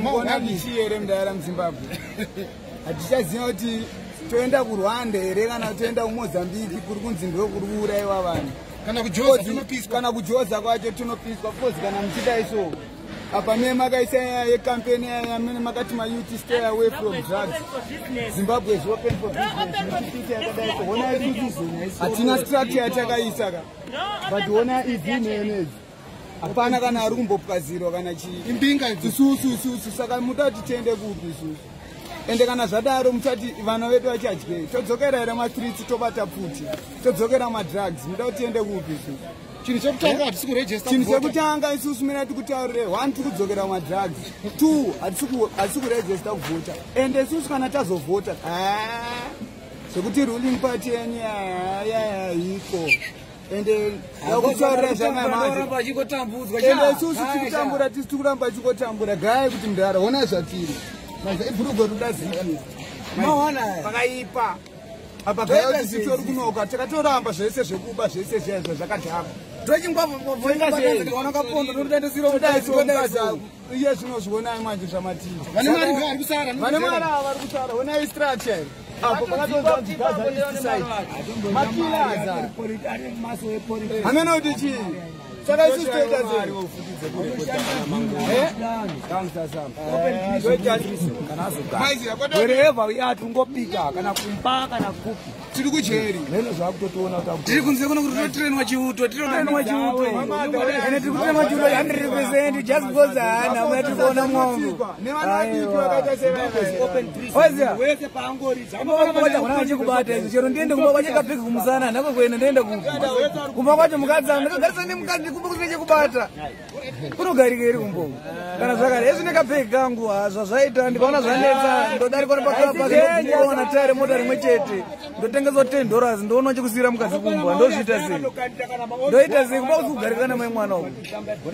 mukondabisii here mdaira muzimbabwe hatichaziva kuti toenda kurwanda here kana toenda kumozambiki kuri kunzi ndo kuri kuuraiwa vanhu kana kujoza kwacho tinopiswa bcoz kana muchidai so apa mie makaisa yekampeni yamene makati mayouth stay away from drugs zimbabwe is open for businesshatina strategy yatakaisa ka but ona izini enezi hapana kana ari kumbopwazirwa kana chii imbinga isusu isusu saka muta kuti tiende kupi isusu ende kana zvadaro muchati vana vedu vachadyei todzokera here matriti tobata pfuti todzokera madrugs muda kuti tiende kupi isusu chinhu chekutanga hatisi kurejista chinhu chekutanga isusu mina tikutaurire one tiri kudzokera madrugs two hatisi kurejista kuvhota ende isusu kana tazovhota zvekuti ruling party yenyu yayayiko ende akutsvarira zvanamazvo ende isusu tikutambura tisi tikuramba achikotambura gaya kuti mdara hona zvatiri ibhurugwe rudazikira pakaipa apa gaya kuti sitori kunoka takatoramba zvese zvekuba zvese zviya zvazvakadhakwa tochingwavaaakapondo todaisongaza iye zvinozvionai manje zvamatiita vane mari vari kusara vane mari ava vari kusara onai structure here apo pakatoamene kuti chii saka isu toita seeever uyati ungopika kana kumba kana kupi tiri kujeri tiri kunze kuno kuti totirenwa chiuto tirotirenwa chiuto ende tiri kutirenwa chiuto hundred percent just because haana amuna tiri kuona mwongo oziaona vachikubata izvi chero ndiende kumba kwacho kapiki kumusana handako kuenda ndiende kupi kumba kwacho mukadzi anhu ndakagarisa nemukadzi kumba kusina chekubata kunogarika iri kumbo kana zvakare ezvi nekapeki kangu hazvazvaita ndikaona zvanetsa ndodarikwa nepakaona tare mota rimwe chete ndotengeswa ten dollars ndoona chekusiyira mukadzi kumbwa ndozviita sei ndoita sei kuba kugarika namai mwana uku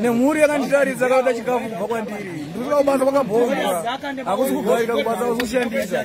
nemhuri yakanditarisa kaoda chikafu kubva kwandiri ndikuaa kubasa kwakabhomba hakusi kugarika kubasa kusikushandisa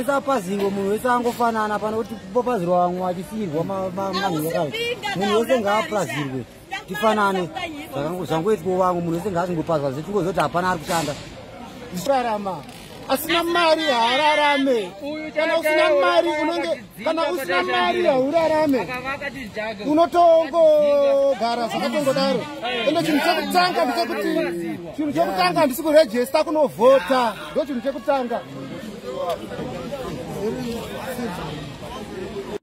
isapazivo munhu wese angofanana pano kuti popazirwa vamwe vachisiirwa manhiyakava munhu wese ngaapazirwe tifanane zvangoitwa vamwe munhu wese ngaazingopazwa zvetingozoti hapana ari kushanda zvikarama asina mari haararame kana usina mari unenge kana usina mari haurarame unotongogara zvakatongodaro ende chinhu chekutanga ndichekuti chinhu chekutanga handisi kurejesta kunovhota ndo chinhu chekutanga